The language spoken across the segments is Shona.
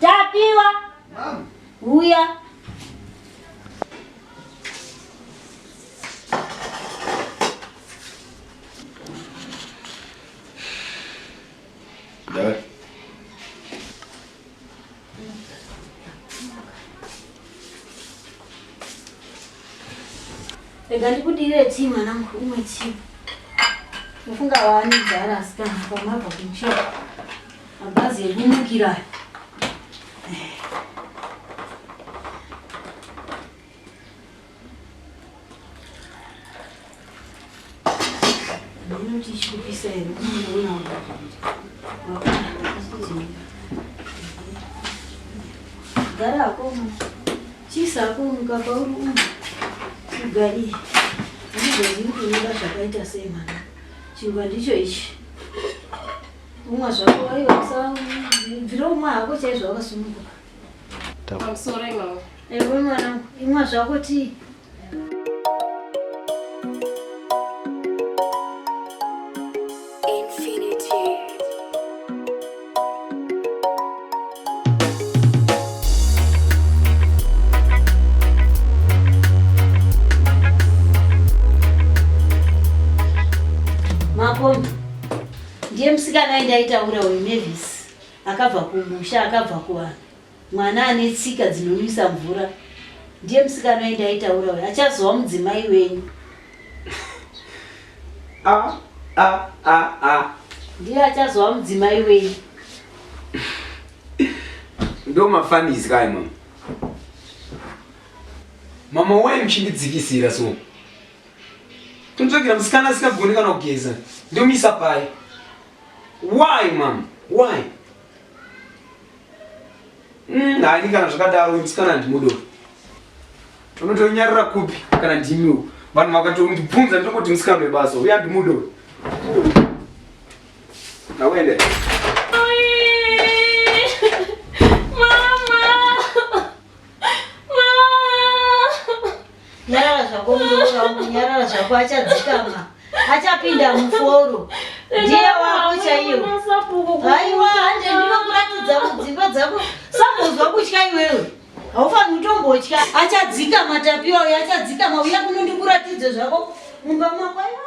Tapiwa. Mama. Huya. Rega ndikudire tii mwanangu umwe tii. Mufunga waani dzara asikana pamabva kuchira. Mabhazi ekumukira aya. Ndinoti chikupisa here? Unoona gara akoma chisa akomuka pauri umu ugari ndizvo ndiri kunoda zvakaita sei mwana chingwa ndicho ichi Umwa zvako aiwa usabvira umwa hako chaizvo wakasununguka. I'm sorry mama. Ewe mwana, imwa zvako tii. Ndiye musikana aindaitaura uyu Mavis akabva kumusha akabva kuvanhu mwana ane tsika dzinonwisa mvura ndiye musikana aindaitaura uyu achazova mudzimai wenyu ah, ah, ah, ah. ndiye achazova mudzimai wenyu ndo mafanis kai mama mama wai muchindidzikisira so Kunzvagira musikana asingagoni kana kugeza ndomisa pai? Why mama? Why? Mm, haini kana zvakadaro uyu musikana handimudo. Unotonyarira kupi kana ndimiwo? Vanhu vakatondibvunza ndokoti musikana webasa uyu handimudo. Nawende. Nyarara zvako muroora wangu, nyarara zvako achadzikama. Achapinda muforo. Ndiye wako chaiyo. Haiwa hande ndinokuratidza mudzimba dzako. Sambozwa kutya iwewe. Haufaniri kutombotya. Achadzikama tapiwa uyo achadzikama uya kuno ndikuratidze zvako mumba mako. Aiwa.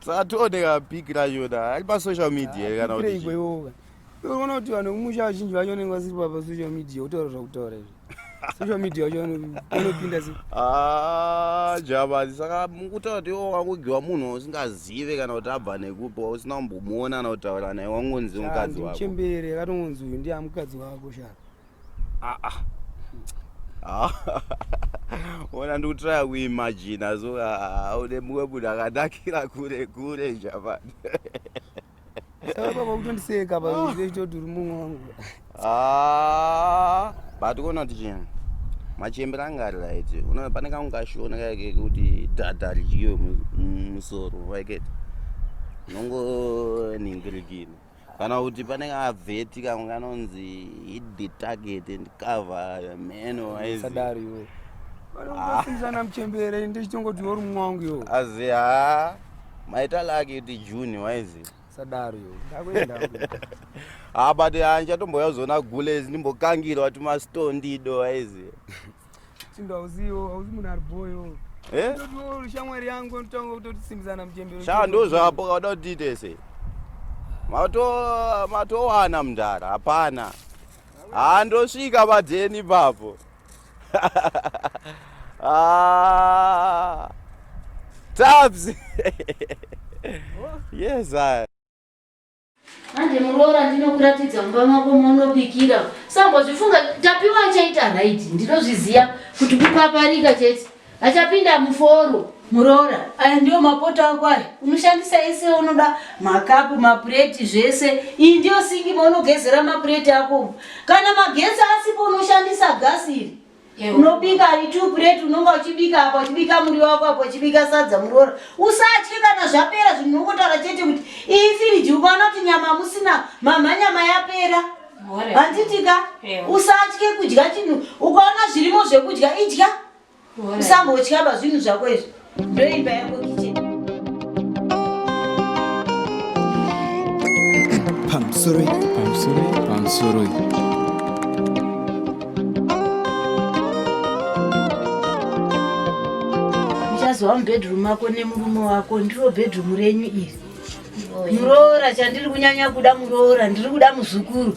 saka tooneka big racho da ari pasocial media here kana kuti unoona kuti vanhu vekumusha vazhinji vacho vanenge vasiri papasocial media utaura zvakutaura izvi social media wacho anopinda se ah, jabadi saka mukutaura kuti iwo wangogiwa munhu usingazive kana kuti abva nekupi usina kumbomuona kana kutaura naye wangonzi mukadzi wako chembere akatongonzi uyu ndiya mukadzi wako shaka ah, ah. ona ndikutraya kuimajina so aude mumwe munhu akanakira kure kure javani kutondiseka paitoti uri mumwe wangu but kuona kuti chii machembera anga ari right unoona pane kangu kashona kaike kuti dhadha ridyiwe musoro waiketi nongonhingirikini kana kuti pane kavheti kamwe kanonzi hit the target and cover the man waisadari iwe vanokusiisana muchembere inde chitongoti uri mumwe wangu iwo azi ha maita laki kuti june waizi sadari iwo ndakuenda ha but handichatomboya kuzoona gules ndimbokangirwa tumastone ndido waizi Chindo hauziwo, hauzi munhu ari boyo. Eh? Ndotiwo shamwari yangu ndotanga kutotisimbisana muchembero. Sha ndozvapo kauda kuti tese. Mato matowana mndara hapana. Handosvika padeni papo. ah. Tabs. yes, I. Manje muroora ndinokuratidza mumba mako maunobikira. Sambozvifunga tapiwa achaita right. Ndinozviziva kuti kupaparika chete. Achapinda muforo. Muroora, aya ndiyo mapoto ako aya. Unoshandisa ese unoda makapu, mapureti zvese. Iyi ndiyo singi maunogezera mapureti ako. Kana magetsi asipo unoshandisa gasi iri. unobika two plate unonga uchibika apa uchibika muri wako apa uchibika sadza muroora usatye kana zvapera zvinhu unongotaura chete kuti iyi firiji ukaona kuti nyama musina mama nyama yapera handitika usatye kudya chinhu ukaona zvirimo zvekudya idya usambotyaba zvinhu zvako izvi Ndoimba yako kitchen. Pamsuri, pamsuri, pamsuri. Muchazova mubedroom mako nemurume wako ndiro bedroom renyu iri. Muroora chandiri kunyanya kuda muroora ndiri kuda muzukuru.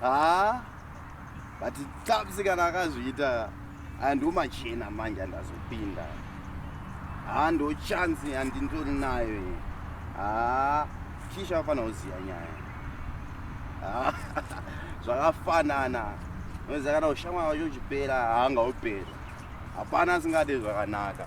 haa but tsapsi kana akazviita aya ndomachena manje andazopinda haa ndo chansi handindori nayo haa kisha afanira kuziva nyaya zvakafanana noziva kana ushamwa wacho uchipera haanga upera hapana asingade zvakanaka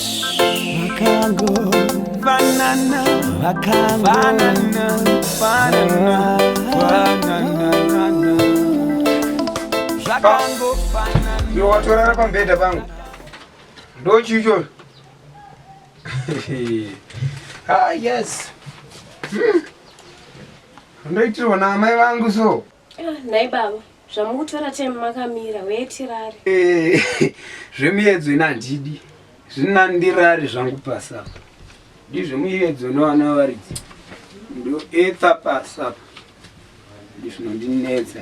Banana, banana, banana, banana, banana. Zvakango banana. Iwe watorara pambhedha pangu. Ndochi ichoyo. ah yes. Hmm. Ndoitirwa naamai vangu so. Ah, nhai baba zvamukutora time makamira wee tirare Eh, zvemuyedzo ina handidi zvina ndirari zvangu pasapa ndi zvemuyedzo nevana varidzi ndoetha pasapa ndi zvinondinetsa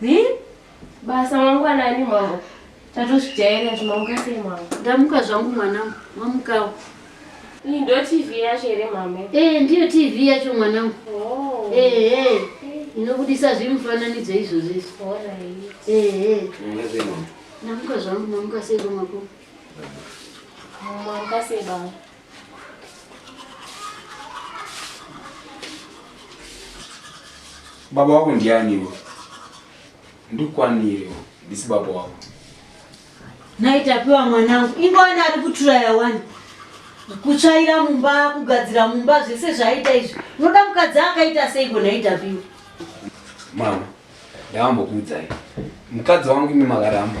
Hi? Basa mangwanani mama. Tatozvijaira zvinomuka sei mama? Ndamuka zvangu mwanangu, wamukawo. Iyi ndo TV yacho here mama? Eh, ndiyo TV yacho mwanangu. Oh. Eh, eh. Inobudisa zvimufananidzo izvozvo izvi. All right. Eh, eh. Ndamuka zvangu, ndamuka sei kwamako? Mama, mukasei baba. baba wako ndianiwo ndikukwanirewo ndisi baba wako naitapiwa mwanangu ingowani ari kuturaya wani kutsvaira mumba kugadzira mumba zvese zvaaita izvi unoda mukadzi akaita seiko naitapiwa mama ndavambokuudzai mukadzi wangu imi makaramba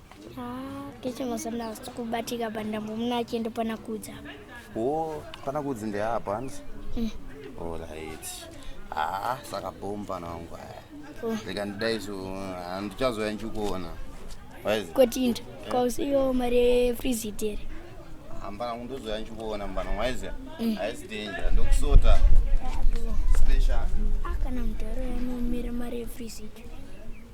kechemazana kubatika pandambo muna achienda pana kudza o pana kudzi ndeapa hanzi mm. orit haa saka bom pana wangu aya oh. reka ndidai so handichazoya ndichikuona kotinda kausiyo mari yefrizit here hambana kundozoya ndichikuona mbana waiziya mm. haisi danger ndokusota special ah, kana mudharo yanomira mari yefrizit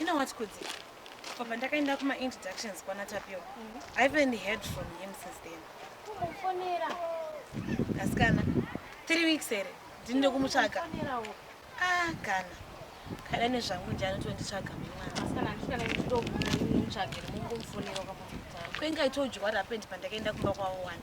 You know what, Kudzi? For Pandakainda kuma introductions kwana Tapio, mm -hmm. I haven't heard from him since then. Kumufonera. Kasikana, three weeks here, ndinode kumutsvaga. Ah, kana. Kana nezvangu nje anotonditsvaga mwana. Kasikana, handisvika nekutomutsvagira, mungumufonera kwamutaro. Kwenga I told you what happened pandakainda kumba kwavo wani.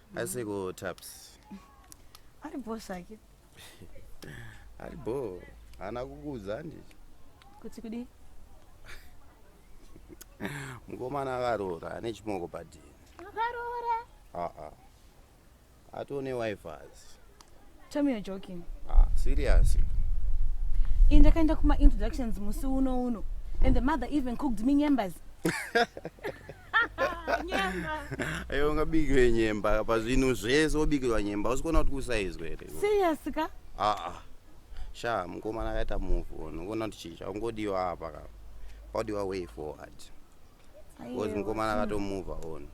aseko taps ari bho zvake ari bho haana kukuudza handii kuti kudii mukomana akaroora ane chimoko padini akaroora aa atone wifas tell me you're joking ah, serious ini ndakaenda kuma introductions musi uno uno and the mother even cooked me nyembers Ayo ungabikirwe nyemba pazvinhu zvese wobikirwa nyemba usikuona kuti kusaizwe here serious ka aa sha mukomana akaita move on ukuona kuti chii chakungodiwa apa ka kwaudiwa way forward because mukomana akatomove on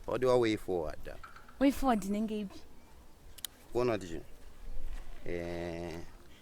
kwaudiwa way forward apa way forward inenge ipi kuona kuti chii Eh,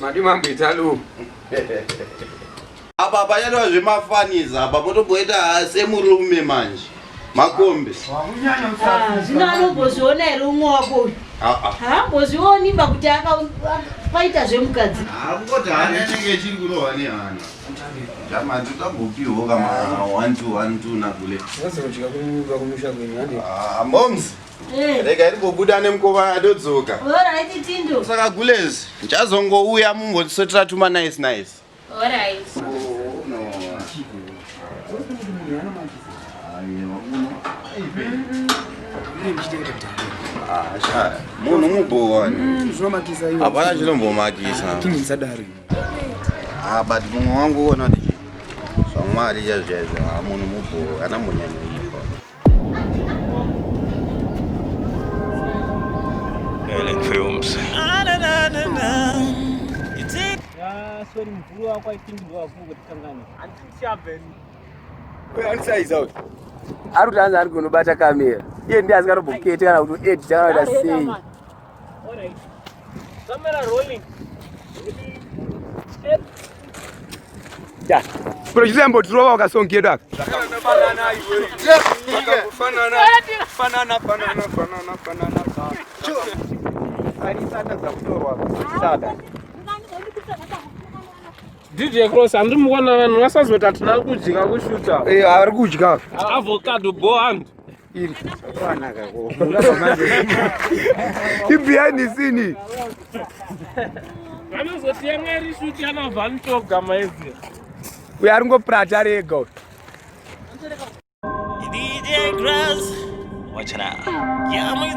madi mambo italo apa panyatova zvemafanizi apa potomboita semurume manje makombe ah, zvino anombozviona here umwe wako uyu ah, ah. haambozvioni ba kuti akaita zvemukadzi moms Eh. rega irimbobuda nemukova adodzoka saka gulez ndichazongouya mumbondisotera tuma nice nice munhu mubhowani mm, hapana chinombomakisa ah, but mumwe wangu uona kuti zvamwari chazvaizvo ah, munhu mubhowa kana munyanyoipa ari kuti anzi ari kunobata kamera iye ndiye asikatombokete kana kuti edita kana kuti sei Alright. Camera rolling. Kuna chizi ambo turowa wakasongedwa aka. DJ Cross andimukona vanhu vasazoti atina kudya kushuta. Eh, ari kudya. Avocado bohand. iri behind the scene vanozotiya mwari shuti anobva nitoga maizi uyo ari ngoprata ari ega DJ Grass, watch it out. Yeah, I'm